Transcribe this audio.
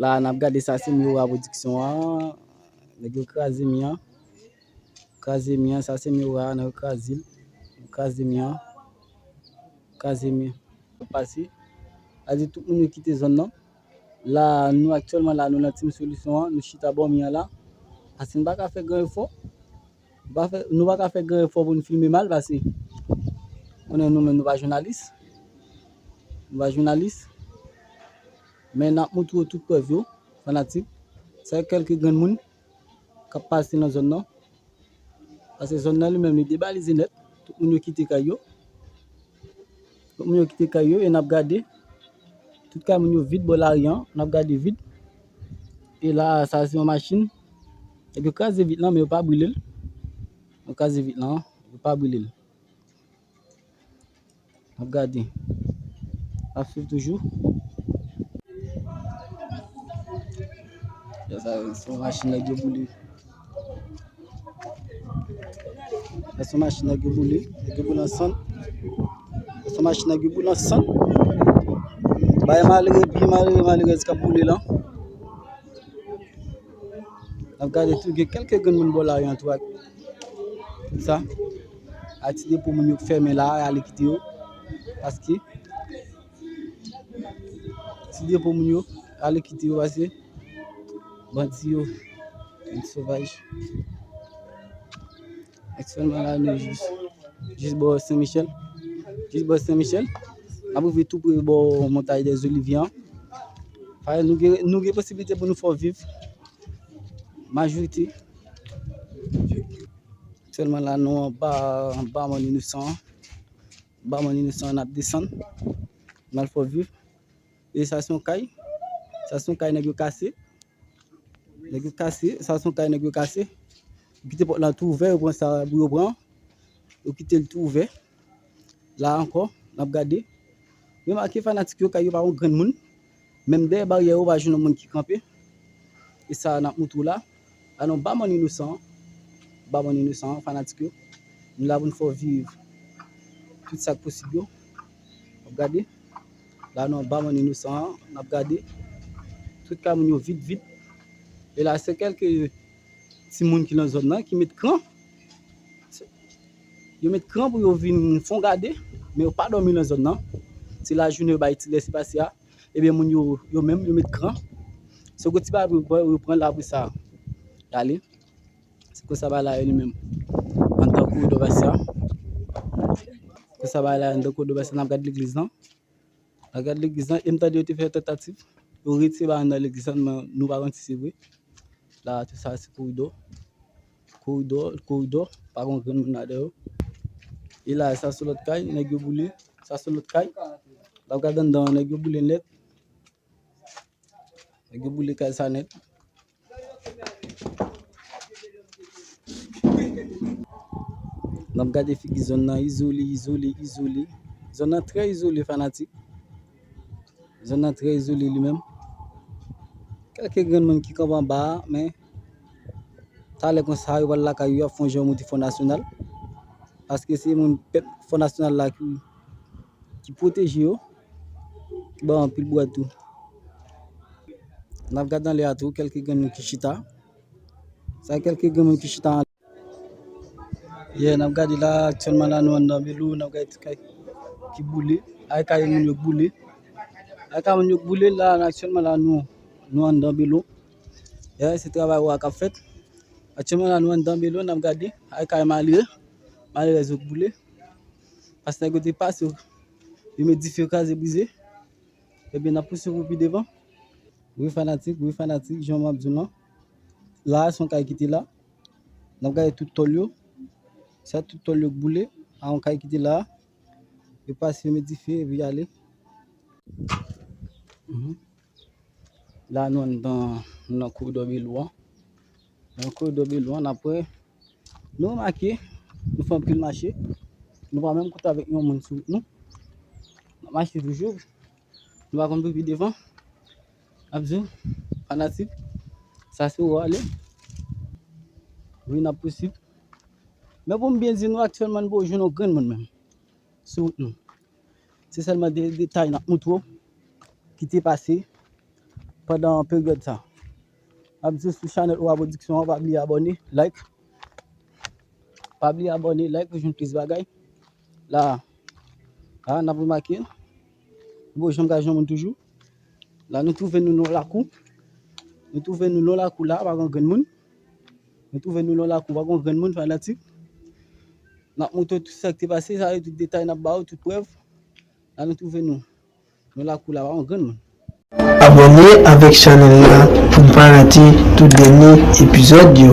La a n ap gade sa se Miura Production an, nèg yo kraze mi an, kraze mi an, sa se Miura a nèg yo kraze l, kraze mi an, kraze mi an. Yo pase, sa di tout moun yo kite zòn nan, la a nou aktyèlman la a nou nan Team Solution an, nou chita bò mi an la, paske n pa ka fè gran efò. Nou pa fè, nou pa ka fè gran efò pou nou filme mal pase konnen nou menm nou pa jounalis. Nou pa jounalis. Men nap moutre ou tout prèv yo, fanatik. Sa e kelke grenn moun kap pase nan zòn nan. Pase zòn nan li menm li debalize nèt. Tout moun yo kite kay yo. Lòt moun yo kite kay yo e n ap gade, tout kay moun yo vid bò lari an, n ap gade vid. E la a, sa a se yon machin, epi yo kraze vit lan men yo pa brile l. Yo kraze vit lan, yo pa brile l. N ap gade, n ap swiv toujou. Sa a se yon machin nèg yo boule. Sa son machine ki boule, ki boule an san. Sa son machine ki boule an san. Baye malere, pi malere malerèz kap boule lan. Nap gade tou gen kelke grenn moun bò lari an tou ak sa. Ak ti depo moun yo k fèmen la ale kite yo. Paske. Ti depo moun yo ale kite yo pase bandi yo bandi sovaj aktyèlman la nou jis jis bò Sen Michel jis bò Sen Michel ap rive tou pre bò Montay dè Zolivye an pare nou gen nou gen posibilite pou nou fò viv majorite aktyèlman la nou anba anba moun inosan an Barman inosan an ap desann nan fò vif e sa se yon kay sa se yon kay nèg yo kase nèg yo kase sa se yon kay nèg yo kase yo kite pòt lan tou ouvè yo pran sa pou yo pran yo kite l tou ouvè la ankò n ap gade remake fanatik yo kay yo pa yon grenn moun Menm dèyè baryè yo ou pa jwenn yon moun ki kanpe. E sa nap moutre w la. A non ba moun inosan an. Ba moun inosan an fanatik yo. Nou la pou nou fè w viv tout sak posib yo. Wap gade. La non ba moun inosan an. Nap gade. Tout ka moun yo vid vid. E la se kelke ti moun ki lan zòn nan ki met kran. Yo met kran pou yo vin fon gade, men yo pa dòmi lan zòn nan. Se lajounen yo bay ti lèse pase a. Ebyen moun yo, yo menm yo met kran. Se gwo ti bagay pou yo pran, yo pran l apre sa y ale. Se konsa bagay la ye li menm. Antan kou Dobasyan. Konsa bagay la ye antan kou Dobasyan. N ap gade legliz lan. A gad legliz lan, e m tande yo te fè tantativ pou retire bagay nan legliz lan men nou pa konn si se vre. La a tou sa se koridò. Koridò, koridò, pa gon grenn moun ladan yo. E la a sa se lòt kay, nèg yo boule, sa se lòt kay. Lè w gad anndan an nèg yo boule nèt. Nèg yo boule kay sa nèt. Nap gade figi zòn nan izole, izole, izole. Zòn nan trè izole fanatik. Zòn nan trè izole li menm. Kèlke grenn moun ki kanp anba a, men talè kon sa yo pral lakay yo ap fon jan yo monte Fon Nasyonal. Paske se moun pèp Fon Nasyonal la ki Ki pwoteje yo. Ki ba yo anpil bwè tou. N ap gade anlè a tou kèlke grenn moun ki chita. Sa kèlke grenn moun ki chita anlè. Ye, n ap gade la, aktyèlman la nou anndan Belou, n ap gade ti kay ki boule. Ay kay moun yo k boule. Ay kay moun yo k boule la, aktyèlman la nou, nou anndan Belou. Ye, se travay ou a k ap fèt. Aktyèlman la nou anndan Belou, n ap gade ay kay malere, malerèz yo k boule. Pas nèg yo te pas yo yo met dife yo kraze brize ebyen nap pouse pou pi devan. Wi fanatik wi fanatik jan map diw lan la a son kay ki te la nap gade tout tòl yo sa tout tòl yo k boule a on kay ki te la a yo pase yo met dife epi yale la nou anndan nan koridò Belou an. Nan koridò Belon an apre nou remake nou fè anpil mache, nou pa menm koute avèk yon moun sou wout nou. N ap mache toujou, nou pa konn pou pi devan. N ap di w, fanatik, sa se ou ale. Wi n ap pousib. Men pou m byen di nou aktyèlman nou poko jwenn yon grenn moun menm sou wout nou. Se sèlman de detay n ap montre w ki te pase pandan peryòd sa. Map di sou chanèl Owa Production an pa bliye abòne, like pa bliye abòne, like pou jwenn plis bagay la a nap remake bon janm ka jwenn moun toujou la nou twouve nou nan lakou nou twouve nou nan lakou la pa gen grenn moun nou twouve nou nan lakou pa gen grenn moun fanatik nap montre tout sa ki te pase sa yo tout detay nap ba ou tout prèv la nou twouve nou Nan lakou la pa yon grenn moun. Abòne avèk chanèl la pou n pa rate tout dènye epizòd yo.